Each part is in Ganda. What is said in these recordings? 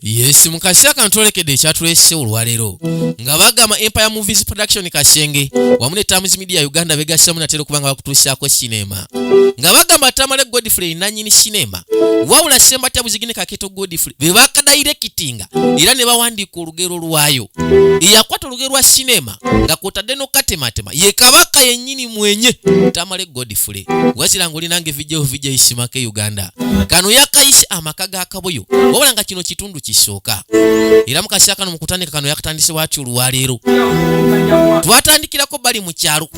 yes mu kaseera kano twolekedde ekyatuleese olwaleero nga bagamba empire movies production kasenge wamu ne tamus media uganda begasiramu natera okuba nga bakutuusaako sinema nga bagamba tamale godfrey nanyini sinema wabula sembatya buzigine kaketo godfrey bebakadayirekitinga era ne bawandiika olugero lwayo eyakwata olugero lwa sinema nga kwotadde nokatematema ye kabaka yennyini mwenye tamale godfule wazira nga olinanga evijeho vija isimaka e uganda kano yakayise amaka ga kaboyo wabula nga kino kitundu kisooka era mu kaseera kano mu kutandika kano yakatandise watyo olwaleero twatandikirako bali mu kyalo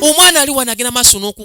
omwana ali wanagenda maaso noku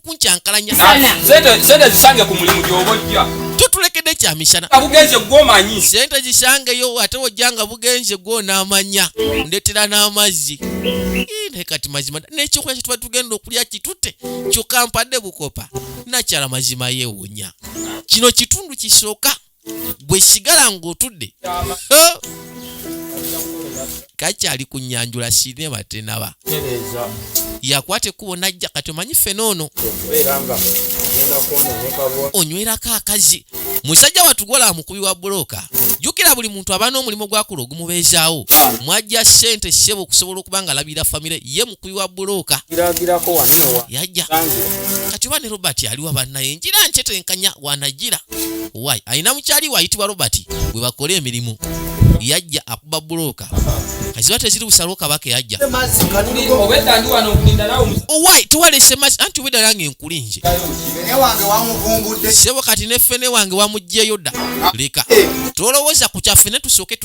kuncankalanya sente sente zisange ku mulimu gyoba ojja totulekedde kyamishana bugenze gwomanyi sente zisangeyo ate wojja nga bugenze gwonamanya ndetera n'amazzi naye kati mazima nekyokulya kyetuba tugenda okulya kitute kyokka mpadde bukopa nakyala mazima yewunya kino kitundu kisooka bwe sigala ng'otudde kakyali ku nyanjula sinema tenaba yakwata ekkubo najja kati omanyi ffena ono onywerako akazi musajja watugola mukubi wa bulooka jukira buli muntu aba n'omulimu gwakula ogumubeezaawo mwajja ssente ssebo okusobola okuba nga alabirira famire ye kuyiwa buluuka yajja kati oba ne robert aliwa bannaye njira nkyetenkanya wanajira wy alina mukyali wayitibwa robert bwe bakola emirimu yajja akuba bulooka kaziba teziri busalo kabaka yajja owai tuwalese mazi anti obwedda nange enkuli nje sebo kati nefene wange wamugjeyo dda leka tolowooza ku kyaffe ne tusooke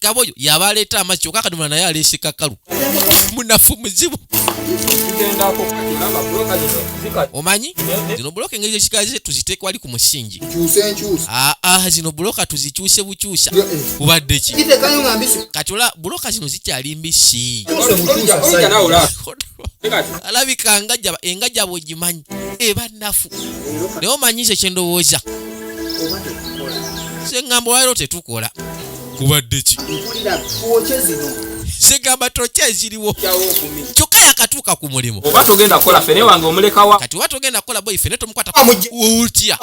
kaba oyo yaba aleeta amazzi kyoka akadomola naye aleese kakalu munafu muzibu omanyi zino buloka engeri zekikaze tuziteeka wali ku musingi aa ah, ah, zino buloka tuzikyuse bukyusa kubadde ki kati ola buloka zino zikyali mbisi alabika engajaba engajaba ogimanyi eba nafu naye omanyise kyendowooza sengambo waliro tetukola kubadde ki segamba tokya eziriwo kyokka yakatuuka ku mulimu oba togenda kukola fene wange omulekawa kati oba togenda kukola boyi fene tomukwatautya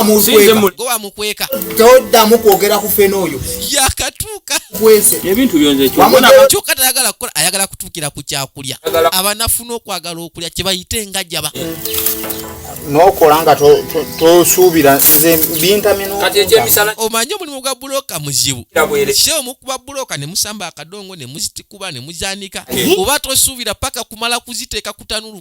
gwe wamukweka toddamu kwogera ku fene oyo yakatuuka kwese ebintu byonze kyokka tayagala kukola ayagala kukira ku kyakulya abanafuna okwagala okulya kyebayite engajaba nokola nga tosuubira nze bintaminomanyi omulimu gwa buloka muzibu se omukuba buloka nemusamba akadongo nemuzitikuba nemuzanika oba tosuubira paka kumala kuziteeka kutanulu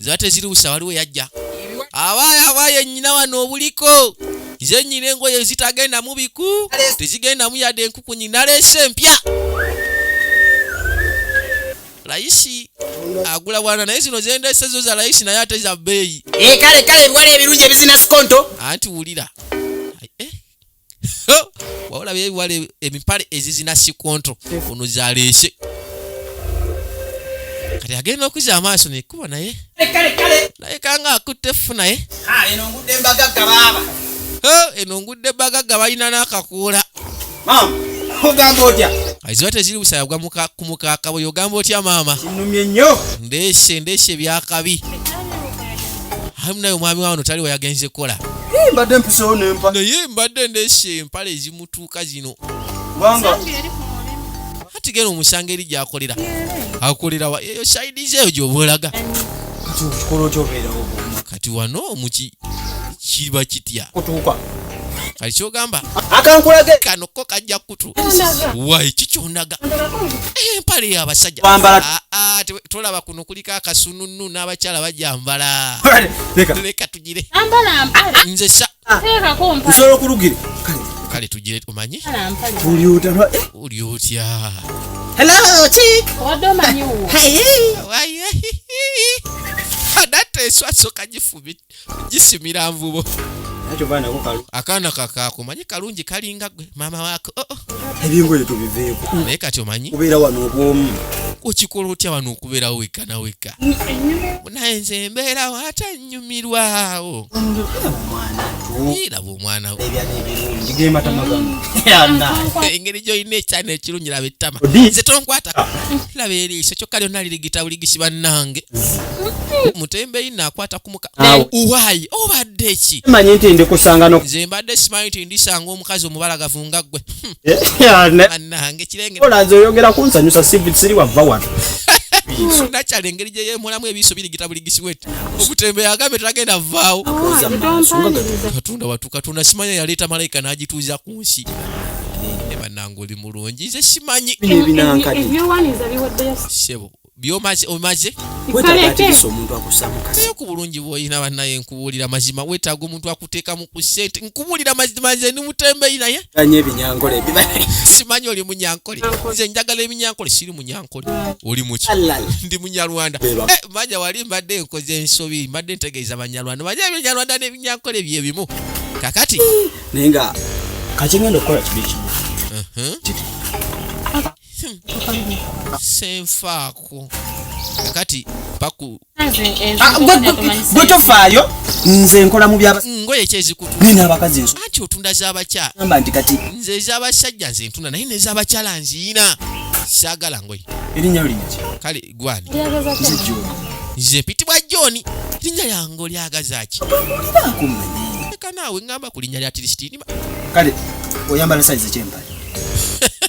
ziba tezirubusa waliwo yajja awaayo awaayo ennyina wano obuliko nze nnyina engoye ezitagenda mu biku tezigenda mu yadde enkukunyi naleese empya layisi agula bwana naye zino zendese zo za layisi naye ate za bbeeyi eh, kale kale ebiwala ebirungi ebizina sikonto anti wulira wabula byebiwala emipale ezizina sikonto ono zaleese kati agenda okuza amaaso nekuba naye naye kanga akutte effu naye eno ngudde mbagagga baaba eno ngudde mbagagga balina n'akakuula ogamba otya aziba teziri busaya gwa ku mukaaka bwe ogamba otya maama kinumye nnyo ndeese ndeese byakabi ayi munaye omwami wawano taliwo yagenze kukola mbadde mpisewo nempa naye mbadde ndesa empala ezimutuuka zino ati gena omusango eri gyakolera akolerawa eyo saidi zeeyo gyoba olaga kati wano muki kiba kitya kati kyogamba akankulage kano ko kajja kutu wayi kikyondaga empale yabasajja ah, ah, tolaba kuno kuliko akasununu n'abakyala bajambala leka tugire nze sa nsobola okulugira kale tugire omanyi oli otya oli otya hello chick wadde omanyi wo adateeswa soka gifubita gisimira nvubo akaana kakakumanyi kalungi kalinga gwe maama waako oh, oh. ebingoye tubiveeko naye kati omanyi obeera wano obwomu okikola otya wano okubeerawo wekka na wekka naye nze embeerawo ate nnyumirwawo omwana engeri gyolina ekyana ekirungi laba ettama nze tonkwatako laba eriiso kyokka lyonna lirigita buligisi bannange mutembeyi nakwata kumukawayi obadde eki nze mbadde simanyi nti ndisanga omukazi omubalagavu nga ggwe bannange kirengeoyogeraunsanyusa siri wava wano nakyala engeri gyeyemulamu ebiiso birigita igishiwet okutembe yagambe tagenda vaawo katonda watu katonda simanya yaleeta malayika n'agituuza ku nsi ne bannange oli mulungi nze simanyi sebo byomaze omaze naye ku bulungi bwolina banaye nkubuulira mazima wetaaga omuntu akuteekamu ku sente nkubuulira mazima nze ni mutembeyi naye simanyi oli munyankole nze njagala eminyankole siri munyankole oli muki ndi munyarwanda eh, manya wali mbadde nkoze ensobi mbadde ntegeeza banyarwanda manya ebinyarwanda nebinyankole byebimu kakati naye nga kakigenda okukola kibi kimu senfaako kakati paku gwe tofaayo nze nkola mu byangoye kyezikutnina abakazi enso anti otunda zabakyala amba nti kati nze ezabasajja nze ntunda naye nezabakyala nziina saagala ngoye erinnya linyaki kale gwani nze mpitibwa joni erinnya lyange olyagazaki eka naawe ngamba ku linnya lya tirisitiinima kale oyambala saizi kyempale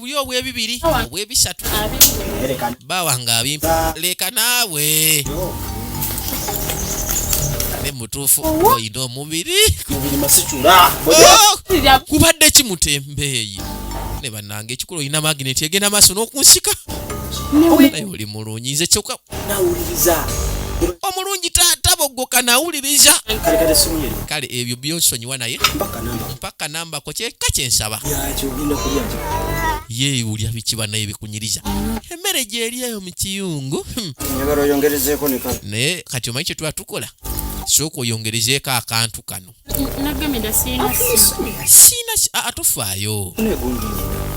buli obwebibiri obwebisatu bawanga abimpa leka naawe ne mutuufu olina omubiri oh! kubadde kimutembeeyi ne banange ekikulu olina magineti egenda maaso n'okunsika naye oli mulungi nze kyoka omulungi taata bogoka nawuliriza kale ebyo byonsonyiwa naye mpaka namba okyeka kyensaba ye ulya biki banaye bikunyiriza emmere gyeri eyo mu kiyungu hmm. naye kati omanyi kyetuba tukola sooka oyongerezeeko akantu kano siina atofaayo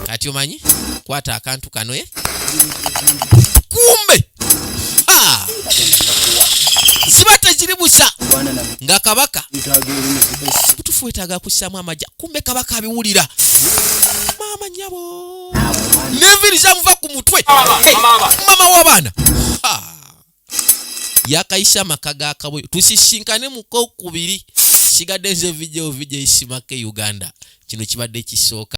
kati omanyi kwata akantu kapu kano eh? kumbe ah! ziba tekiri busa nga kabaka butufu wetaaga kussaamu amagya kumbe kabaka abiwulira maama nyabo neviri zamuva ku mutwe mama w'abaana ah! yakayisa amaka ga kaboyo tusisinkane mukokubiri sigadde nze vidio vidio isimake uganda kino kibadde kisooka